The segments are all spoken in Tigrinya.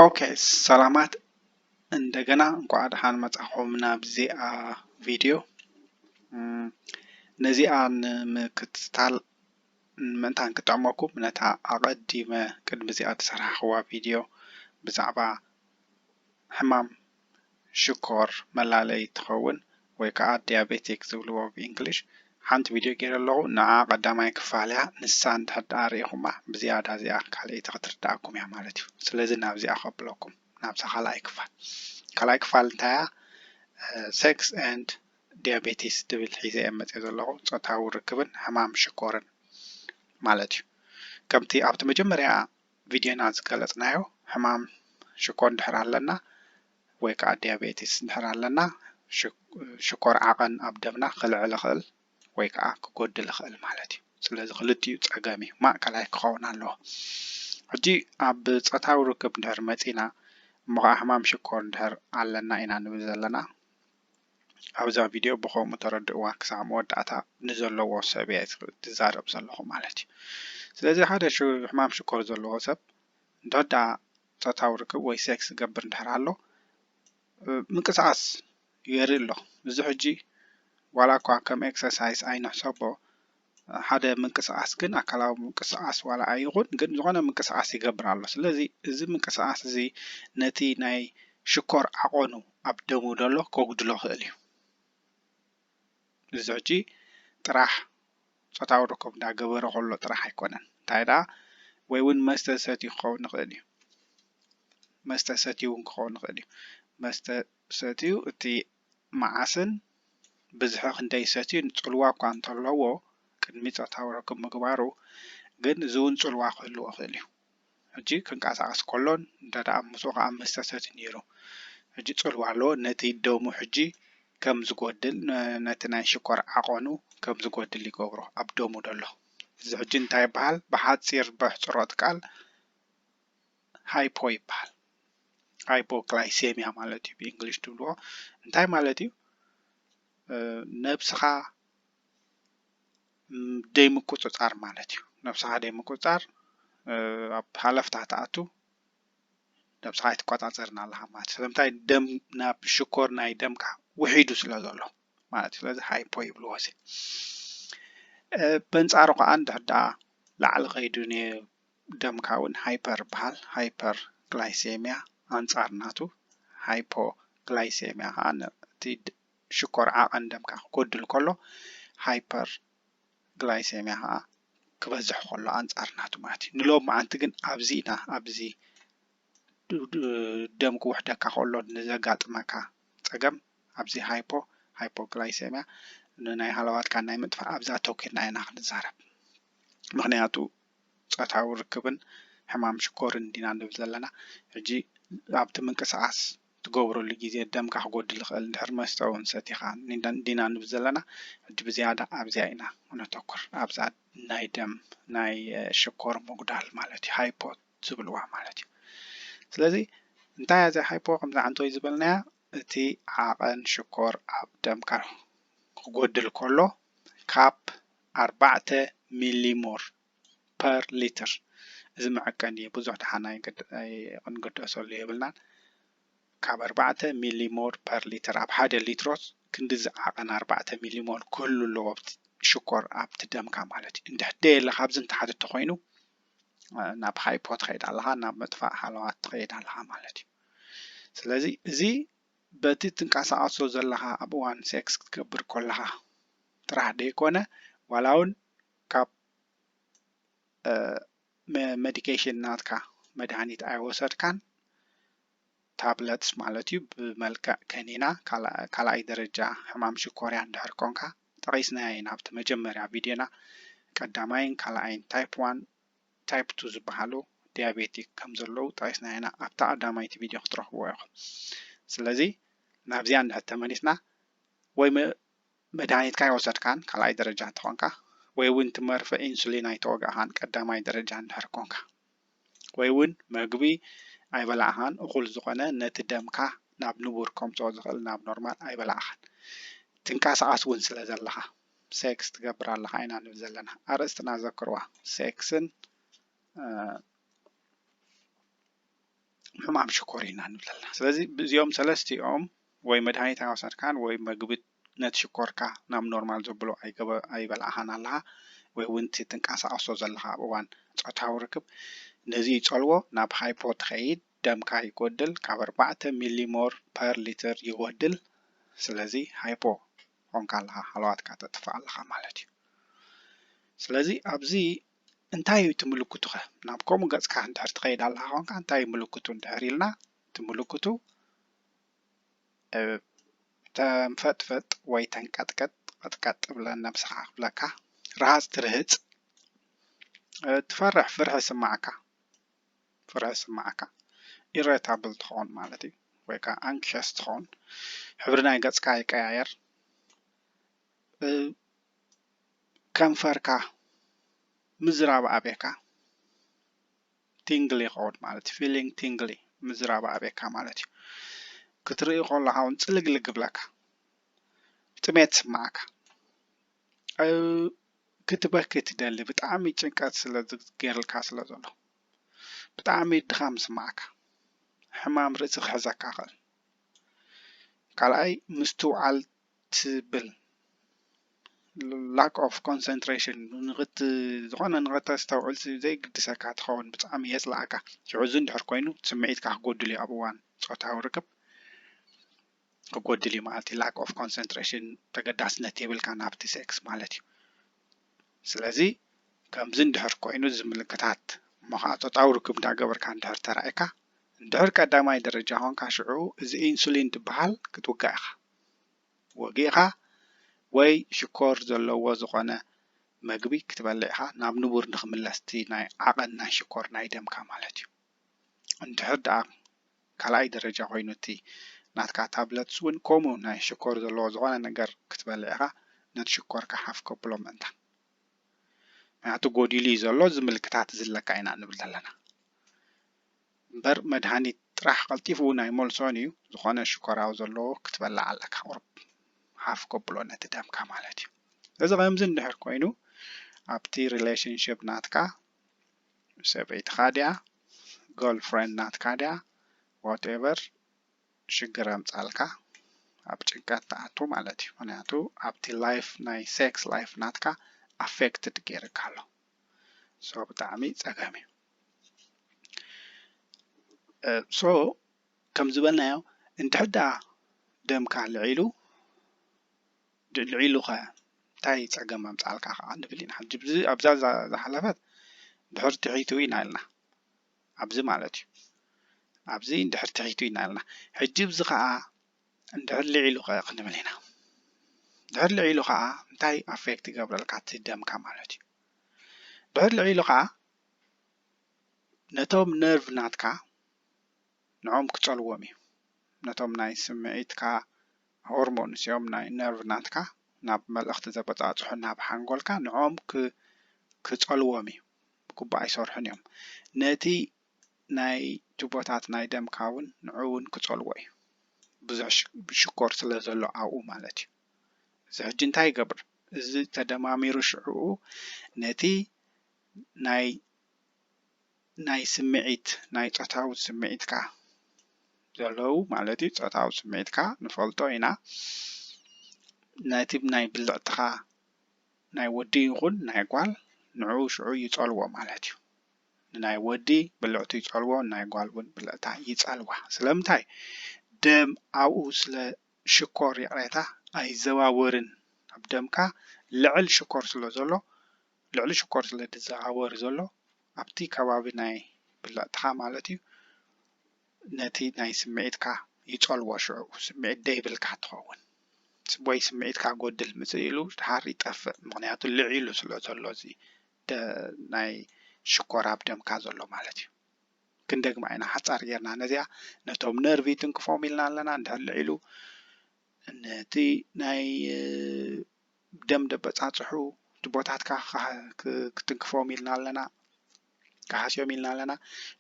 ኦኬ ሰላማት እንደገና እንኳዕ ደሓን መጻኹም ናብዚኣ ቪድዮ ነዚኣ ንምክትታል ምእንታን ክጠቕመኩም ነታ ኣቐዲመ ቅድሚ እዚኣ ተሰርሓኽዋ ቪድዮ ብዛዕባ ሕማም ሽኮር መላለይ ትኸውን ወይ ከኣ ዲያቤቲክ ዝብልዎ ብ ኢንግሊሽ ሓንቲ ቪድዮ ጌረ ኣለኹ ንዓ ቀዳማይ ክፋል እያ ንሳ እንድሕር ደኣ ሪኢኹማ ብዝያዳ እዚኣ ካልኣይቲ ክትርደኣኩም እያ ማለት እዩ ስለዚ ናብዚኣ ከብለኩም ናብዛ ካልኣይ ክፋል ካልኣይ ክፋል እንታይ እያ ሴክስ ኤንድ ዲያቤቲስ ትብል ሒዘ እየ መጽየ ዘለኹ ጾታዊ ርክብን ሕማም ሽኮርን ማለት እዩ ከምቲ ኣብቲ መጀመርያ ቪድዮና ዝገለጽናዮ ሕማም ሽኮር እንድሕር ኣለና ወይ ከኣ ዲያቤቲስ እንድሕር ኣለና ሽኮር ዓቐን ኣብ ደምና ክልዕል ይኽእል ወይ ከኣ ክጎድል ይኽእል ማለት እዩ። ስለዚ ክልቲኡ ጸገም እዩ ማእከላይ ክኸውን ኣለዎ። ሕጂ ኣብ ጾታዊ ርክብ እንድሕር መጺና እሞ ከኣ ሕማም ሽኮር እንድሕር ኣለና ኢና ንብል ዘለና። ኣብዛ ቪድዮ ብከምኡ ተረድእዋ ክሳዕ መወዳእታ ንዘለዎ ሰብ እየ ዝዛረብ ዘለኹ ማለት እዩ። ስለዚ ሓደ ሕማም ሽኮር ዘለዎ ሰብ እንተወዳኣ ፆታዊ ርክብ ወይ ሴክስ ዝገብር እንድሕር ኣሎ ምንቅስቓስ የርኢ ኣሎ። እዚ ሕጂ ዋላ እኳ ከም ኤክሰርሳይስ ኣይንሕሰቦ ሓደ ምንቅስቃስ ግን ኣካላዊ ምንቅስቃስ ዋላ ኣይኹን ግን ዝኾነ ምንቅስቃስ ይገብር ኣሎ ስለዚ እዚ ምንቅስቃስ እዚ ነቲ ናይ ሽኮር ዓቆኑ ኣብ ደሙ ደሎ ከጉድሎ ክእል እዩ እዚ ሕጂ ጥራሕ ፆታዊ ርክብ እንዳገበረ ከሎ ጥራሕ ኣይኮነን እንታይ ደኣ ወይ እውን መስተ ሰትዩ ክኸውን ይኽእል እዩ መስተ ሰትዩ እውን ክኸውን ይኽእል እዩ መስተ ሰትዩ እቲ መዓስን ብዝሒ ክንደይ ይሰትዩን ጽልዋ እኳ እንተለዎ፣ ቅድሚ ጾታዊ ርክብ ምግባሩ ግን እዚ'ውን ጽልዋ ክህልዎ ይኽእል እዩ። ሕጂ ክንቀሳቐስ ከሎን እንተደኣ ምስኡ ከኣ መስተ ሰትዩ ነይሩ ሕጂ ጽልዋ ኣለዎ። ነቲ ደሙ ሕጂ ከም ዝጎድል ነቲ ናይ ሽኮር ዓቐኑ ከም ዝጎድል ይገብሮ ኣብ ደሙ ዘሎ እዚ ሕጂ እንታይ ይበሃል ብሓጺር በሕጽሮት ቃል። ሃይፖ ይበሃል ሃይፖግላይሴምያ ማለት እዩ ብእንግሊሽ ትብልዎ እንታይ ማለት እዩ ነብስኻ ደይ ምቁፅፃር ማለት እዩ ነብስኻ ደይ ምቁፅፃር ኣብ ሃለፍታ ትኣቱ ነብስኻ ኣይትቆፃፀርን ኣለኻ ማለት ስለምንታይ ደም ናብ ሽኮር ናይ ደምካ ውሒዱ ስለ ዘሎ ማለት እዩ ስለዚ ሃይፖ ይብልዎ እዚ በንፃሩ ከዓ እንድሕር ዳኣ ላዕሊ ከይዱ ደምካ ውን ሃይፐር በሃል ሃይፐር ግላይሴምያ ኣንጻር ናቱ ሃይፖ ግላይሴምያ ከኣ ነቲ ሽኮር ዓቐን ደምካ ክጎድል ከሎ ሃይፐር ግላይሴምያ ከኣ ክበዝሕ ከሎ ኣንጻር ናቱ ማለት እዩ ንሎም መዓንቲ ግን ኣብዚ ኢና ኣብዚ ደም ክውሕደካ ከሎ ንዘጋጥመካ ጸገም ኣብዚ ሃይፖ ሃይፖግላይሴምያ ንናይ ሃለዋትካ ናይ ምጥፋእ ኣብዛ ተኪርና ኢና ክንዛረብ ምክንያቱ ጾታዊ ርክብን ሕማም ሽኮርን ዲና ንብል ዘለና ሕጂ ኣብቲ ምንቅስቃስ ትገብረሉ ግዜ ደምካ ክጎድል ይክእል እንድሕር መስተ ውን ሰቲካ ዲና ንብል ዘለና ሕጂ ብዝያዳ ኣብዚኣ ኢና ነተኩር ኣብዛ ናይ ደም ናይ ሽኮር ምጉዳል ማለት እዩ ሃይፖ ዝብልዋ ማለት እዩ ስለዚ እንታይ እያ እዚኣ ሃይፖ ከምዚ ዓንቶይ ዝበልናያ እቲ ዓቐን ሽኮር ኣብ ደምካ ክጎድል ከሎ ካብ ኣርባዕተ ሚሊሞር ፐር ሊትር እዚ መዐቀኒ እዩ ብዙሕ ደሓን ኣይክንግደሰሉ የብልናን ካብ ኣርባዕተ ሚሊሞር ፐር ሊትር ኣብ ሓደ ሊትሮስ ክንዲ ዝዓቐን ኣርባዕተ ሚሊሞር ክህሉ ኣለዎ ሽኮር ኣብቲ ደምካ ማለት እዩ እንድሕር ደየለ ካብዚ ንታሕቲ እንተኮይኑ ናብ ሃይፖ ትኸይድ ኣለኻ ናብ መጥፋእ ሃለዋት ትኸይድ ኣለኻ ማለት እዩ ስለዚ እዚ በቲ እትንቀሳቐሶ ዘለኻ ኣብ እዋን ሴክስ ክትገብር ኮለኻ ጥራሕ ደይኮነ ዋላውን ካብ መዲኬሽን ናትካ መድሃኒት ኣይወሰድካን ታብለትስ ማለት እዩ ብመልክዕ ከኒና ካልኣይ ደረጃ ሕማም ሽኮርያ እንድሕር ኮንካ ጠቒስናዮ ኢና ኣብቲ መጀመርያ ቪድዮና ቀዳማይን ካልኣይን ታይፕ ዋን ታይፕ ቱ ዝበሃሉ ዲያቤቲክ ከም ዘለዉ ጠቂስና ኢና ኣብታ ቀዳማይቲ ቪድዮ ክትረኽብዎ ኢኹም ስለዚ ናብዚኣ እንድሕር ተመሊስና ወይ መድሃኒትካ ኣይወሰድካን ካልኣይ ደረጃ እንተኾንካ ወይ እውን እቲ መርፌ ኢንሱሊን ኣይተወጋእኻን ቀዳማይ ደረጃ እንድሕር ኮንካ ወይ እውን መግቢ ኣይበላዕኻን እኹል ዝኾነ ነቲ ደምካ ናብ ንቡር ከምፅኦ ዝኽእል ናብ ኖርማል ኣይበላዕኻን ትንቀሳቐስ እውን ስለ ዘለኻ ሴክስ ትገብር ኣለኻ ኢና ንብል ዘለና። ኣርእስትና ዘክርዋ ሴክስን ሕማም ሽኮር ኢና ንብል ኣለና። ስለዚ ብዚኦም ሰለስቲኦም ወይ መድሃኒት ኣይወሰድካን ወይ መግቢ ነቲ ሽኮርካ ናብ ኖርማል ዘብሎ ኣይበላዕኻን ኣለኻ ወይ እውን እቲ ትንቀሳቐሶ ዘለኻ ኣብ እዋን ፆታዊ ርክብ ነዚ ይፀልዎ ናብ ሃይፖ ትኸይድ ደምካ ይጎድል ካብ ኣርባዕተ ሚሊሞር ፐር ሊትር ይጎድል ስለዚ ሃይፖ ኮንካ ኣለኻ ሃለዋትካ ተጥፍእ ኣለኻ ማለት እዩ ስለዚ ኣብዚ እንታይ እዩ እቲ ምልክቱኸ ናብ ከምኡ ገጽካ እንድሕር ትኸይድ ኣለኻ ኮንካ እንታይ እዩ ምልክቱ እንድሕር ኢልና እቲ ምልክቱ ተንፈጥፈጥ ወይ ተንቀጥቀጥ ቀጥቀጥ ብለን ነብስኻ ክብለካ ረሃፅ ትርህፅ ትፈርሕ ፍርሒ ስማዓካ ፍርሒ ዝስምዓካ ኢረታብል ትኸውን ማለት እዩ ወይ ከኣ ኣንክሸስ ትኸውን ሕብሪ ናይ ገጽካ ይቀያየር ከንፈርካ ምዝራብ ኣብካ ቲንግሊ ይኸውን ማለት እዩ ፊሊንግ ቲንግሊ ምዝራብ ኣብካ ማለት እዩ ክትርኢ ከለካ እውን ፅልግልግ ይብለካ ጥሜት ይስምዓካ ክትበኪ ትደሊ ብጣዕሚ ጭንቀት ስለ ገይሩልካ ስለ ዘሎ ብጣዕሚ ድኻም ዝስምዓካ ሕማም ርእሲ ክሕዘካ ይኽእል ካልኣይ ምስትውዓል ትብል ላክ ኦፍ ኮንሰንትሬሽን ዝኾነ ንኸተስተውዕል ዘይግድሰካ ትኸውን ብጣዕሚ የፅልኣካ ሽዑ እዚ እንድሕር ኮይኑ ስምዒትካ ክጎድል እዩ ኣብ እዋን ፆታዊ ርክብ ክጎድል እዩ ማለት እዩ ላክ ኦፍ ኮንሰንትሬሽን ተገዳስነት የብልካን ኣብቲ ሴክስ ማለት እዩ ስለዚ ከምዚ እንድሕር ኮይኑ እዚ ምልክታት እሞ ከዓ ፆታዊ ርክብ እንዳገበርካ እንድሕር ተራእካ እንድሕር ቀዳማይ ደረጃ ኮንካ ሽዑ እዚ ኢንሱሊን ትበሃል ክትውጋእ ኢኻ ወጊእኻ ወይ ሽኮር ዘለዎ ዝኾነ መግቢ ክትበልዕ ኢኻ ናብ ንቡር ንክምለስ እቲ ናይ ዓቐን ናይ ሽኮር ናይ ደምካ ማለት እዩ እንድሕር ደኣ ካልኣይ ደረጃ ኮይኑ እቲ ናትካ ታብለትስ እውን ከምኡ ናይ ሽኮር ዘለዎ ዝኾነ ነገር ክትበልዕ ኢኻ ነቲ ሽኮርካ ሓፍ ከብሎ ምእንታን ምክንያቱ ጎዲሉ እዩ ዘሎ እዚ ምልክታት እዚ ኣለካ ኢና ንብል ዘለና እምበር መድሃኒት ጥራሕ ቀልጢፉ እውን ኣይመልሶን እዩ ዝኾነ ሽኮራዊ ዘለዎ ክትበልዕ ኣለካ ቁርብ ሓፍ ከብሎ ነቲ ደምካ ማለት እዩ እዚ ከምዚ እንድሕር ኮይኑ ኣብቲ ሪሌሽንሽፕ ናትካ ሰበይትኻ ድያ ጎል ፍረንድ ናትካ ድያ ዋትኤቨር ሽግር ኣምጻልካ ኣብ ጭንቀት ትኣቱ ማለት እዩ ምክንያቱ ኣብቲ ላይፍ ናይ ሴክስ ላይፍ ናትካ ኣፌክትድ ገይርካ ኣሎ ሶ ብጣዕሚ ጸገም እዩ ሶ ከም ዝበልናዮ እንድሕዳ ደምካ ልዒሉ ድልዕ ኢሉኸ እንታይ ጸገም ኣምጽኣልካ ከኣ ንብል ኢና። ሕጂ ብዚ ኣብዛ ዝሓለፈት ድሕሪ ትሒቱ ኢና ኢልና። ኣብዚ ማለት እዩ። ኣብዚ እንድሕር ትሒቱ ኢና ኢልና። ሕጂ ብዚ ከኣ እንድሕር ልዒሉኸ ክንብል ኢና። ድሕር ልዒሉ ከኣ እንታይ ኣፌክት ይገብረልካ እቲ ደምካ ማለት እዩ። ድሕር ልዒሉ ከኣ ነቶም ነርቭ ናትካ ንዕኦም ክጸልዎም እዩ። ነቶም ናይ ስምዒትካ ሆርሞንስ እዮም ናይ ነርቭ ናትካ ናብ መልእኽቲ ዘበጻጽሑ ናብ ሓንጎልካ ንዕኦም ክጸልዎም እዩ ብግቡእ ኣይሰርሑን እዮም ነቲ ናይ ቱቦታት ናይ ደምካ ውን ንዑ ውን ክጸልዎ እዩ ብዙሕ ሽኮር ስለ ዘሎ ኣብኡ ማለት እዩ እዚ ሕጂ እንታይ ይገብር እዚ ተደማሚሩ ሽዕኡ ነቲ ናይ ናይ ስምዒት ናይ ጾታዊ ስምዒትካ ዘለዉ ማለት እዩ ጾታዊ ስምዒትካ ንፈልጦ ኢና ነቲ ናይ ብልዕትኻ ናይ ወዲ ይኹን ናይ ጓል ንዑ ሽዑ ይጸልዎ ማለት እዩ ንናይ ወዲ ብልዕቱ ይጸልዎ ናይ ጓል እውን ብልዕታ ይጸልዋ ስለምንታይ ደም ኣብኡ ስለ ሽኮር ይቕሬታ ኣይዘዋወርን ኣብ ደምካ ልዕል ሽኮር ስለ ዘሎ ልዕሊ ሽኮር ስለ ዝዓወር ዘሎ ኣብቲ ከባቢ ናይ ብልዕትኻ ማለት እዩ ነቲ ናይ ስምዒትካ ይጸልዎ ሽዑ ስምዒት ደይብልካ ትኸውን ወይ ስምዒትካ ጎድል ምጽእ ኢሉ ድሓር ይጠፍእ ምክንያቱ ልዒሉ ስለ ዘሎ እዚ ናይ ሽኮር ኣብ ደምካ ዘሎ ማለት እዩ ክንደግማ ኢና ሓጻር ጌርና ነዚኣ ነቶም ነርቪ ትንክፎም ኢልና ኣለና እንድሕር ልዒሉ ነቲ ናይ ደም ደበጻጽሑ ጅቦታትካ ክትንክፎም ኢልና ኣለና ክሃስዮም ኢልና ኣለና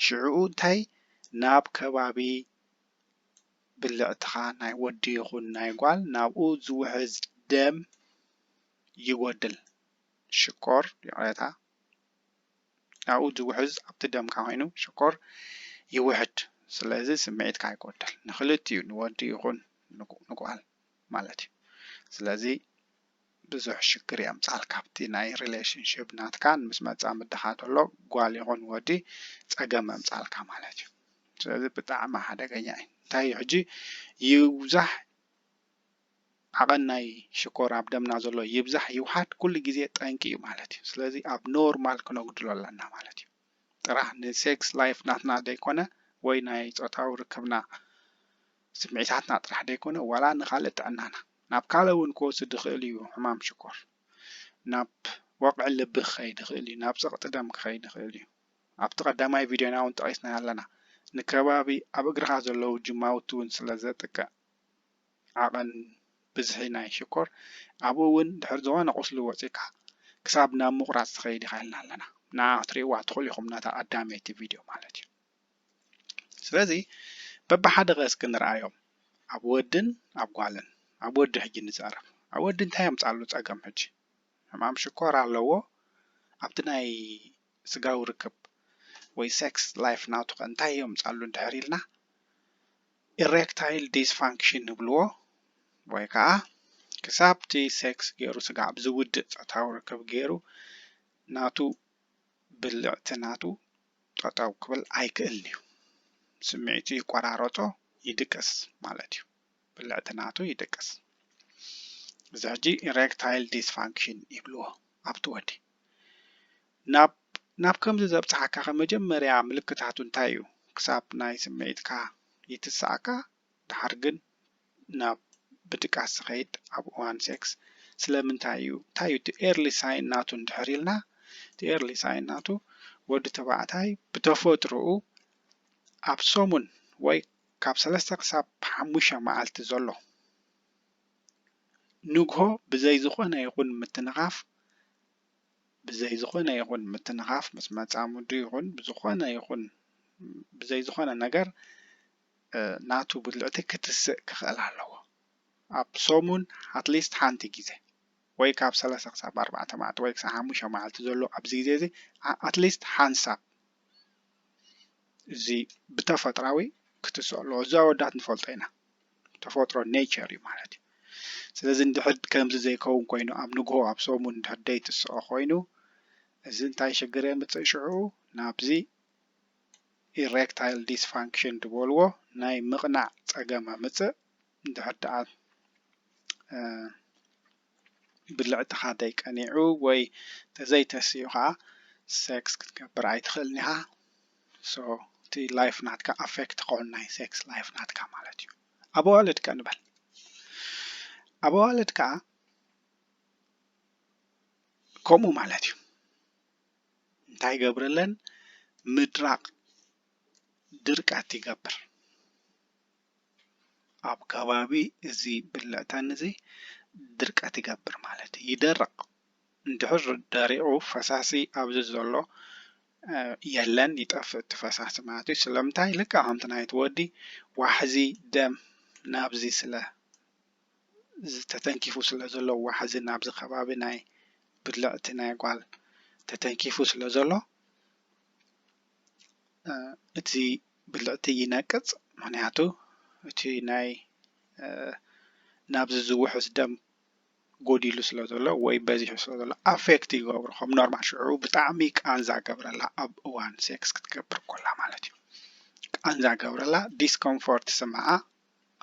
ሽዑኡ እንታይ ናብ ከባቢ ብልዕትኻ ናይ ወዲ ይኹን ናይ ጓል ናብኡ ዝውሕዝ ደም ይጎድል ሽኮር ይቕሬታ ናብኡ ዝውሕዝ ኣብቲ ደምካ ኮይኑ ሽኮር ይውሕድ ስለዚ ስምዒትካ ይጎድል ንክልቲኡ ንወዲ ይኹን ንጓል ማለት እዩ ስለዚ ብዙሕ ሽግር የምጻልካ ኣብቲ ናይ ሪሌሽንሽፕ ናትካ ምስ መጻ ምድኻ ተሎ ጓል ይኹን ወዲ ጸገም የምጻልካ ማለት እዩ ስለዚ ብጣዕሚ ሓደገኛ እዩ እንታይ እዩ ሕጂ ይብዛሕ ዓቐን ናይ ሽኮር ኣብ ደምና ዘሎ ይብዛሕ ይውሓድ ኩሉ ግዜ ጠንቂ እዩ ማለት እዩ ስለዚ ኣብ ኖርማል ክነጉድሎ ኣለና ማለት እዩ ጥራሕ ን ሴክስ ላይፍ ናትና ደይኮነ ወይ ናይ ጾታዊ ርክብና ስምዒታትና ጥራሕ ደይኮነ ዋላ ንካልእ ጥዕናና ናብ ካልእ ውን ክወስድ ይክእል እዩ ሕማም ሽኮር ናብ ወቅዒ ልቢ ክከይድ ይክእል እዩ ናብ ጸቅጢ ደም ክከይድ ይክእል እዩ ኣብቲ ቀዳማይ ቪድዮና ውን ጠቂስናዮ ኣለና ንከባቢ ኣብ እግርካ ዘለዉ ጅማውቲ ውን ስለ ዘጥቅዕ ዓቐን ብዝሒ ናይ ሽኮር ኣብኡ እውን ድሕሪ ዝኾነ ቁስሊ ወጺእካ ክሳብ ናብ ምቑራጽ ትኸይድ ኢኻ ኢልና ኣለና። ንዓ ክትርእይዋ ትኽእሉ ኢኹም ነታ ቀዳመይቲ ቪድዮ ማለት እዩ። ስለዚ በብሓደ ከ እስኪ ንርኣዮም ኣብ ወድን ኣብ ጓልን ኣብ ወዲ ሕጂ ንዛረብ ኣብ ወዲ እንታይ ኣምጻሉ ጸገም ሕጂ ሕማም ሽኮር ኣለዎ ኣብቲ ናይ ስጋዊ ርክብ ወይ ሴክስ ላይፍ ናቱ ከ እንታይ የምጻሉ እንድሕር ኢልና ኢሬክታይል ዲስፋንክሽን ንብልዎ ወይ ከዓ ክሳብቲ ሴክስ ገይሩ ስጋዕ ብዝውድእ ፆታዊ ርክብ ገይሩ ናቱ ብልዕቲ ናቱ ጠጠው ክብል ኣይክእልን እዩ። ስምዒቱ ይቆራረፆ ይድቅስ ማለት እዩ። ብልዕቲ ናቱ ይድቅስ። እዚ ሕጂ ኢሬክታይል ዲስፋንክሽን ይብልዎ ኣብቲ ወዲ። ናብ ናብ ከምዚ ዘብጽሓካኸ መጀመርያ ምልክታቱ እንታይ እዩ? ክሳብ ናይ ስምዒትካ ይትስኣካ፣ ደሓር ግን ናብ ብድቃስ ዝኸይድ ኣብ እዋን ሴክስ ስለምንታይ እዩ? እንታይ እዩ እቲ ኤርሊ ሳይን ናቱ እንድሕር ኢልና እቲ ኤርሊ ሳይን ናቱ ወዲ ተባዕታይ ብተፈጥርኡ ኣብ ሰሙን ወይ ካብ ሰለስተ ክሳብ ሓሙሽተ መዓልቲ ዘሎ ንግሆ ብዘይ ዝኾነ ይኹን ምትንኻፍ ብዘይ ዝኾነ ይኹን ምትንኻፍ ምስ መጻምዱ ይኹን ብዝኾነ ይኹን ብዘይ ዝኾነ ነገር ናቱ ብልዕቲ ክትስእ ክኽእል ኣለዎ ኣብ ሰሙን ኣትሊስት ሓንቲ ግዜ ወይ ካብ ሰለስተ ክሳብ ኣርባዕተ መዓልቲ ወይ ክሳብ ሓሙሽተ መዓልቲ ዘሎ ኣብዚ ግዜ እዚ ኣትሊስት ሓንሳብ እዚ ብተፈጥራዊ ክትስኦ ኣለዎ እዚ ኣወዳት ንፈልጦ ኢና ተፈጥሮ ኔቸር እዩ ማለት እዩ ስለዚ እንድሕር ከምዚ ዘይከውን ኮይኑ ኣብ ንግሆ ኣብ ሰሙን እንድሕር ደይትስኦ ኮይኑ እዚ እንታይ ሽግር የምፅእ ሽዑ ናብዚ ኢሬክታይል ዲስፋንክሽን ዝበልዎ ናይ ምቕናዕ ፀገም ኣምፅእ እንድሕር ደኣ ብልዕትኻ ተይቀኒዑ ወይ ተዘይተሲኡ ከኣ ሰክስ ክትገብር ኣይትኽእልን ኢኻ so እቲ ላይፍ ናትካ ኣፌክት ክኾን ናይ ሰክስ ላይፍ ናትካ ማለት እዩ ኣብ ኣዋልድ ከ ንበል ኣብ ኣዋልድ ከኣ ከምኡ ማለት እዩ እንታይ ገብረለን ምድራቅ ድርቀት ይገብር ኣብ ከባቢ እዚ ብልዕታን እዚ ድርቀት ይገብር ማለት እዩ ይደርቅ እንድሕር ደሪቁ ፈሳሲ ኣብዚ ዘሎ የለን ይጠፍእ እቲ ፈሳሲ ማለት እዩ ስለምንታይ ልክዕ ከምቲ ናይቲ ወዲ ዋሕዚ ደም ናብዚ ስለ ተተንኪፉ ስለ ዘሎ ዋሕዚ ናብዚ ከባቢ ናይ ብልዕቲ ናይ ጓል ተተንኪፉ ስለ ዘሎ። እቲ ብልዕቲ ይነቅፅ ምክንያቱ እቲ ናይ ናብዚ ዝውሕዝ ደም ጎዲሉ ስለ ዘሎ ወይ በዚሑ ስለ ዘሎ ኣፌክት ይገብሮ ከም ኖርማል ሽዑ ብጣዕሚ ቃንዛ ይገብረላ ኣብ እዋን ሴክስ ክትገብር ከላ ማለት እዩ ቃንዛ ይገብረላ ዲስኮምፎርት ይስምዓ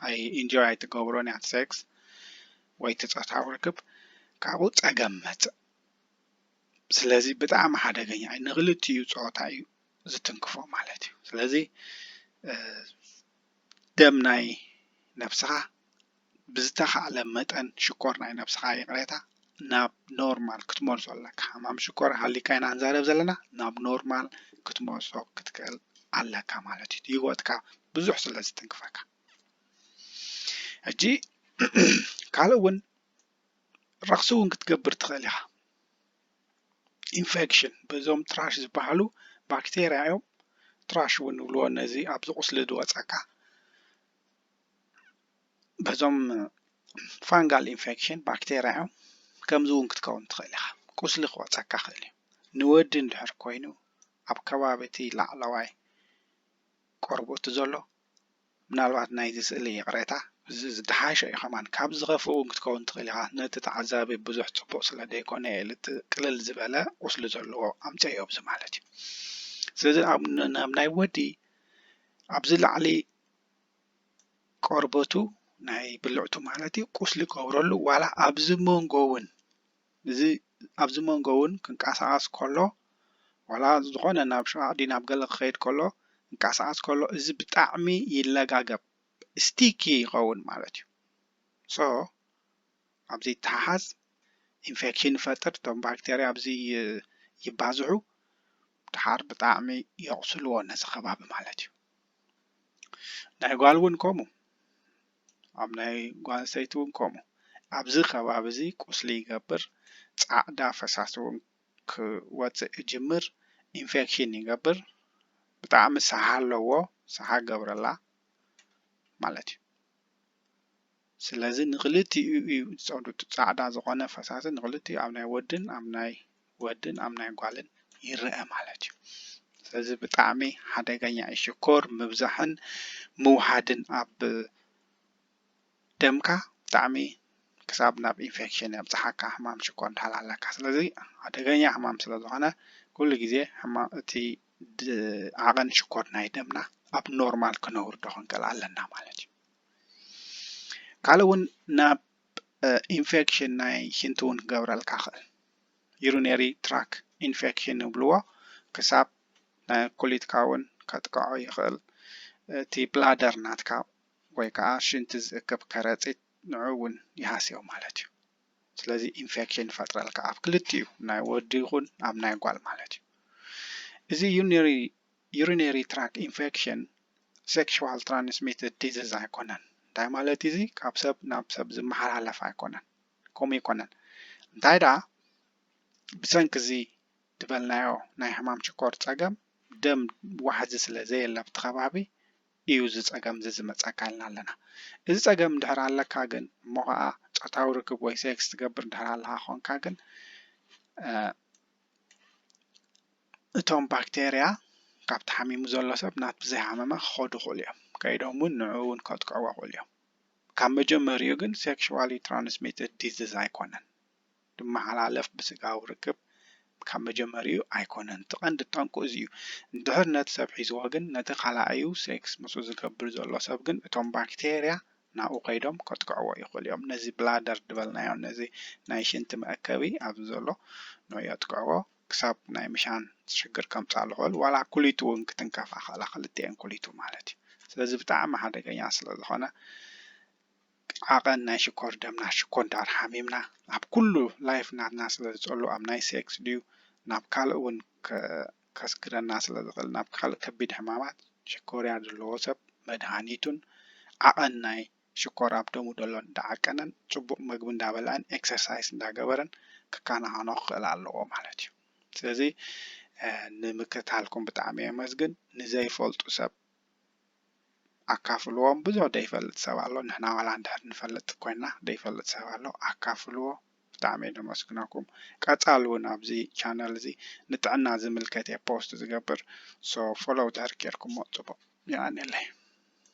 ኣይ ኢንጆይ ኣይትገብሮን እያ ሴክስ ወይ እቲ ፆታዊ ርክብ ካብኡ ፀገም ይመፅእ። ስለዚ ብጣዕሚ ሓደገኛ እዩ ንክልቲኡ ፆታ እዩ ዝትንክፎ ማለት እዩ ስለዚ ደም ናይ ነብስኻ ብዝተኻእለ መጠን ሽኮር ናይ ነብስኻ ይቕሬታ ናብ ኖርማል ክትመልሶ ኣለካ ሕማም ሽኮር ሃሊካ ኢና ንዛረብ ዘለና ናብ ኖርማል ክትመልሶ ክትክእል ኣለካ ማለት እዩ ህይወትካ ብዙሕ ስለ ዝትንክፈካ ሕጂ ካልእ እውን ረኽሲ እውን ክትገብር ትኽእል ኢኻ ኢንፌክሽን በዞም ትራሽ ዝበሃሉ ባክቴርያ እዮም ትራሽ እውን ንብልዎ ነዚ ኣብዚ ቁስሊ ዝወፀካ በዞም ፋንጋል ኢንፌክሽን ባክቴርያ እዮም ከምዚ እውን ክትከውን ትኽእል ኢኻ ቁስሊ ክወፀካ ክእል እዩ ንወዲ እንድሕር ኮይኑ ኣብ ከባቢ እቲ ላዕለዋይ ቆርቦቱ ዘሎ ምናልባት ናይዚ ስእሊ ይቕሬታ እዚ ዝደሓሸ እዩ ከማን ካብ ዝኸፍእ ውን ክትከውን ትኽእል ኢኻ ነቲ ተዓዛቢ ብዙሕ ጽቡቕ ስለ ደይኮነ እየ ልቲ ቅልል ዝበለ ቁስሊ ዘለዎ ኣምጸዮ ኣብዚ ማለት እዩ ስለዚ ኣብ ናይ ወዲ ኣብዚ ላዕሊ ቆርበቱ ናይ ብልዕቱ ማለት እዩ ቁስሊ ገብረሉ ዋላ ኣብዚ መንጎ ውን እዚ ኣብዚ መንጎ ውን ክንቃሳቀስ ከሎ ዋላ ዝኮነ ናብ ሽቃቅ ድዩ ናብ ገለ ክከይድ ከሎ ክንቃሳቀስ ከሎ እዚ ብጣዕሚ ይለጋገብ sticky ይከውን ማለት እዩ so ኣብዚ ይተሓሓዝ ኢንፌክሽን ይፈጥር እቶም ባክተርያ ኣብዚ ይባዝሑ ድሓር ብጣዕሚ የቁስልዎ ነዚ ከባቢ ማለት እዩ ናይ ጓል ውን ከምኡ ኣብ ናይ ጓል ኣንስተይቲ ውን ከምኡ ኣብዚ ከባቢ እዚ ቁስሊ ይገብር ጻዕዳ ፈሳሲ ውን ክወጽእ ይጅምር ኢንፌክሽን ይገብር ብጣዕሚ ሰሓ ኣለዎ ሰሓ ገብረላ ማለት እዩ ስለዚ ንክልቲኡ እዩ ዝጸዱ ጻዕዳ ዝኮነ ፈሳሲ ንክልቲኡ ኣብ ናይ ወድን ኣብ ናይ ወድን ኣብ ናይ ጓልን ይረኣ ማለት እዩ ስለዚ ብጣዕሚ ሓደገኛ እዩ ሽኮር ምብዛሕን ምውሓድን ኣብ ደምካ ብጣዕሚ ክሳብ ናብ ኢንፌክሽን የብፅሓካ ሕማም ሽኮር እንድሕር ኣለካ ስለዚ ሓደገኛ ሕማም ስለ ዝኾነ ኩሉ ግዜ ሕማም እቲ ዓቐን ሽኮር ናይ ደምና ኣብ ኖርማል ክነውርዶ ክንክእል ኣለና ማለት እዩ ካልእ እውን ናብ ኢንፌክሽን ናይ ሽንቲ እውን ክገብረልካ ክእል ዩሪነሪ ትራክ ኢንፌክሽን ይብልዎ ክሳብ ናይ ኩሊትካ እውን ከጥቅዖ ይኽእል እቲ ብላደር ናትካ ወይ ከዓ ሽንቲ ዝእክብ ከረፂት ንዑ እውን ይሃስዮ ማለት እዩ ስለዚ ኢንፌክሽን ይፈጥረልካ ኣብ ክልቲኡ ናይ ወዲ ይኹን ኣብ ናይ ጓል ማለት እዩ እዚ ዩሪነሪ urinary tract infection sexual transmitted disease ኣይኮነን እንታይ ማለት እዚ ካብ ሰብ ናብ ሰብ ዝመሓላለፍ ኣይኮነን ከምኡ ኣይኮነን እንታይ ደኣ ብሰንኪ እዚ ዝበልናዮ ናይ ሕማም ሽኮር ጸገም ደም ዋሕዚ ስለ ዘየለ ኣብቲ ከባቢ እዩ እዚ ጸገም እዚ ዝመጸካ ኢልና ኣለና እዚ ጸገም እንድሕር ኣለካ ግን እሞ ከዓ ጾታዊ ርክብ ወይ ሴክስ ትገብር እንድሕር ኣለካ ኮንካ ግን እቶም ባክቴርያ ካብ ተሓሚሙ ዘሎ ሰብ ናት ብዘይሃመመ ክኸዱ ይኽእሉ እዮም ከይዶም እውን ንዕኡ እውን ከጥቅዕዎ ይኽእሉ እዮም ካብ መጀመሪኡ ግን ሴክሽዋሊ ትራንስሚትድ ዲዝዝ ኣይኮነን። ዝመሓላለፍ ብስጋዊ ርክብ ካብ መጀመሪኡ ኣይኮነን። እቲ ቀንዲ ጠንቁ እዚ እዩ። እንድሕር ነቲ ሰብ ሒዝዎ ግን ነቲ ካላኣዩ ሴክስ ምስኡ ዝገብር ዘሎ ሰብ ግን እቶም ባክቴርያ ናብኡ ከይዶም ከጥቅዕዎ ይኽእሉ እዮም። ነዚ ብላደር ዝበልናዮ ነዚ ናይ ሽንቲ መእከቢ ኣብዚ ዘሎ ንዮ የጥቅዕዎ። ክሳብ ናይ ምሻን ሽግር ከምጽኣ ልኽእል ዋላ ኩሊት ውን ክትንከፋ ይኽእላ ክልቲኤን ኩሊቱ ማለት እዩ ስለዚ ብጣዕሚ ሓደገኛ ስለ ዝኾነ ዓቐን ናይ ሽኮር ደምና ሽኮር ዳር ሓሚምና ኣብ ኩሉ ላይፍ ናትና ስለ ዝጸሉ ኣብ ናይ ሴክስ ድዩ ናብ ካልእ ውን ከስግረና ስለ ዝኽእል ናብ ካልእ ከቢድ ሕማማት ሽኮርያ ዘለዎ ሰብ መድሃኒቱን ዓቐን ናይ ሽኮር ኣብ ደሙ ደሎ እንዳዓቀነን ጽቡቅ መግቢ እንዳበልዐን ኤክሰርሳይስ እንዳገበረን ክካናኸኖ ክኽእል ኣለዎ ማለት እዩ ስለዚ ንምክትታልኩም ብጣዕሚ የመስግን ንዘይፈልጡ ሰብ ኣካፍልዎም ብዙሕ ደይፈልጥ ሰብ ኣሎ ንሕና ዋላ እንድሕር ንፈልጥ ኮይና ደይፈልጥ ሰብ ኣሎ ኣካፍልዎ ብጣዕሚ ደመስግነኩም ቀጻሊ እውን ኣብዚ ቻነል እዚ ንጥዕና ዝምልከት እየ ፖስት ዝገብር ሶ ፎሎው ድሕር ጌርኩሞ ጽቡቅ የቀንየለይ